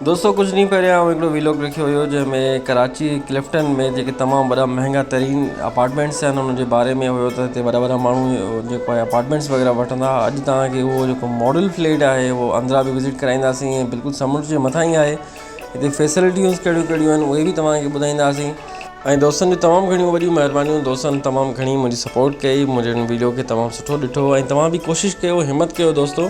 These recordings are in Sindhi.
دوستو ڪجهه ڏينهن پهريان آئون هڪڙو ويلاگ لکيو هيو جنهن ۾ ڪراچي ڪلفٽن ۾ جيڪي تمام وڏا مهنگا ترين اپارٽمينٽس آهن انهن جي باري ۾ هيو ته هتي وڏا وڏا ماڻهو جيڪو آهي اپارٽمينٽس وغيره وٺندا هئا اڄ توهان کي اهو جيڪو ماڊل فليٽ آهي اهو اندرا به وزٽ ڪرائينداسين ۽ بلڪل سمنڊ جي مٿان ئي آهي هتي فيسلٽيون ڪهڙيون ڪهڙيون آهن اهي به توهان کي ٻڌائينداسين. ۽ دوستن جون تمام گهڻيون وڏيون مهربانيون دوستن تمام گهڻي منهنجي سپورٽ ڪئي منهنجي هن ويڊيو کي تمام سٺو ڏٺو ۽ توهان به ڪوشش ڪيو همت ڪيو دوستو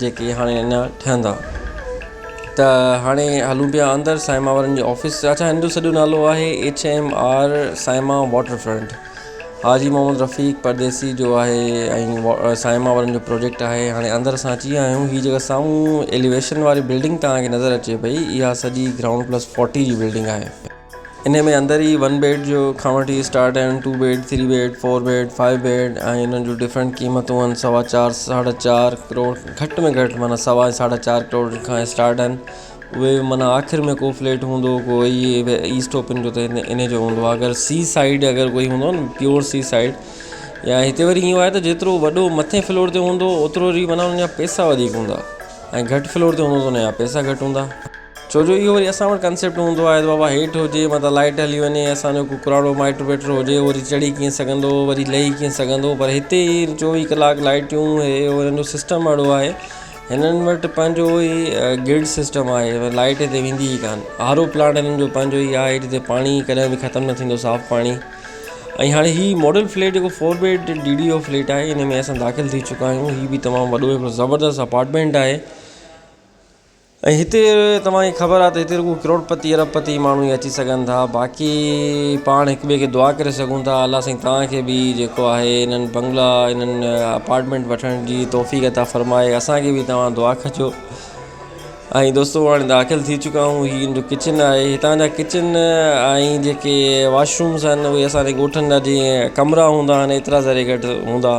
جيڪي هاڻي اڃا ٺهندا. ته هاڻي هلون پيا اندر سائما وارن جي آفيس تي. اڇا هن جو سڄو نالو آهي ايڇ ايم آر سائما واٽر فرنٽ. حاجي محمد رفيق پرديسي جو آهي ۽ سائما وارن جو پروجيڪٽ آهي. هاڻي اندر اسان اچي ويا آهيون. هي جيڪا سامهون ايليويشن واري بلڊنگ توهان کي نظر اچي پئي اها سڄي گرائونڊ پلس فورٽي جي بلڊنگ آهي. انهي ۾ اندر ئي ون بيڊ جو کان وٺي اسٽارٽ آهن two bed three bed four bed five bed ۽ انهن جون ڊفرنٽ قيمتون آهن سوا چار ساڍا چار ڪروڙ گهٽ ۾ گهٽ معنيٰ سوا ۽ ساڍا چار ڪروڙ کان اسٽارٽ آهن اهي معنيٰ آخر ۾ ڪو فليٽ هوندو ڪو هي ايسٽ اوپن جو ته انهي جو هوندو آهي اگر سي سائيڊ اگر ڪوئي هوندو آهي نه پيور سي سائيڊ يا هتي وري ايئن آهي ته جيترو وڏو مٿين فلور تي هوندو اوترو وري معنيٰ ان جا پئسا وڌيڪ هوندا ۽ گهٽ فلور تي هوندو ته ان جا پئسا گهٽ هوندا ڇو جو اهو وري اسان وٽ ڪنسيپٽ هوندو آهي ته بابا هيٺ هجي متان لائٽ هلي وڃي اسانجو ڪو پراڻو مائٽ وائٽ هجي وري چڙهي ڪيئن سگهندو وري لهي ڪيئن سگهندو پر هتي چوويهه ڪلاڪ لائٽيون هي هو هن جو سسٽم اهڙو آهي هنن وٽ پنهنجو هي گرڊ سسٽم آهي لائٽ هتي ويندي ئي کوان آر او پلانٽ هنن جو پنهنجو ئي آهي جتي پاڻي ڪڏهن به ختم نه ٿيندو صاف پاڻي ۽ هاڻي هي ماڊل فليٽ جيڪو four bed D D O flat آهي ان ۾ اسان داخل ٿي چڪا آهيون هي بي تمام وڏو هڪڙو زبردست اپارٽمنٽ آهي ۽ هتي توهان کي خبر آهي ته هتي رڳو ڪروڙپتي ارب پتي ماڻهو ئي اچي سگهن ٿا باقي پاڻ هڪ ٻئي کي دعا ڪري سگهون ٿا الله سائين توهان کي به جيڪو آهي انهن بنگلا انهن اپارٽمنٽ وٺڻ جي توفيق عطا فرمائي اسانکي به توهان دعا ڪجو ۽ دوستو هاڻي داخل ٿي چڪا آهيون هي ان جو ڪچن آهي هتان جا ڪچن ۽ جيڪي واشرومز آهن اهي اسان جي ڳوٺن جا جيئن ڪمرا هوندا آهن ايترا ذري گهٽ هوندا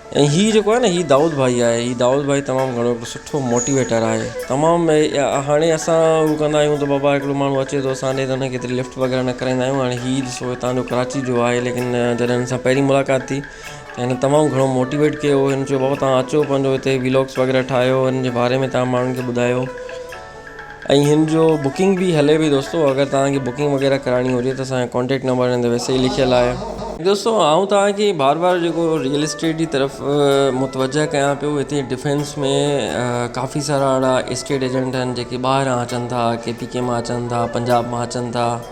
۽ هي جيڪو آهي نه هي دائود ڀائي آهي هي دائود ڀائي تمام گهڻو هڪڙو سٺو موٽيويٽر آهي تمام هاڻي اسان هو ڪندا آهيون ته بابا هڪڙو ماڻهو اچي ٿو اسان ڏي ته هنکي ڪيتري لفٽ وغيره نه ڪرائيندا آهيون هاڻي هي ڏسو هتان جو ڪراچي جو آهي ليڪن جڏهن هن سان پهرين ملاقات ٿي ته هن تمام گهڻو موٽيويٽ ڪيو هن چيو بابا تهان اچو پنهنجو هتي ولوگس وغيره ٺاهيو هن جي باري ۾ تهان ماڻهن کي ٻڌايو ۽ هن جو بڪنگ به هلي پئي دوستو اگر توهان کي بڪنگ وغيره ڪرائڻي هجي ته اسان جو ڪانٽيڪٽ نمبر هن تي ويسي ئي لکيل آهي دوستو آئون توهان کي بار بار جيڪو ريئل اسٽيٽ جي طرف متوجه ڪيان پيو هتي ڊفينس ۾ ڪافي سارا اهڙا اسٽيٽ ايجنٽ آهن جيڪي ٻاهران اچن ٿا ڪي پي ڪي مان اچن ٿا پنجاب مان اچن ٿا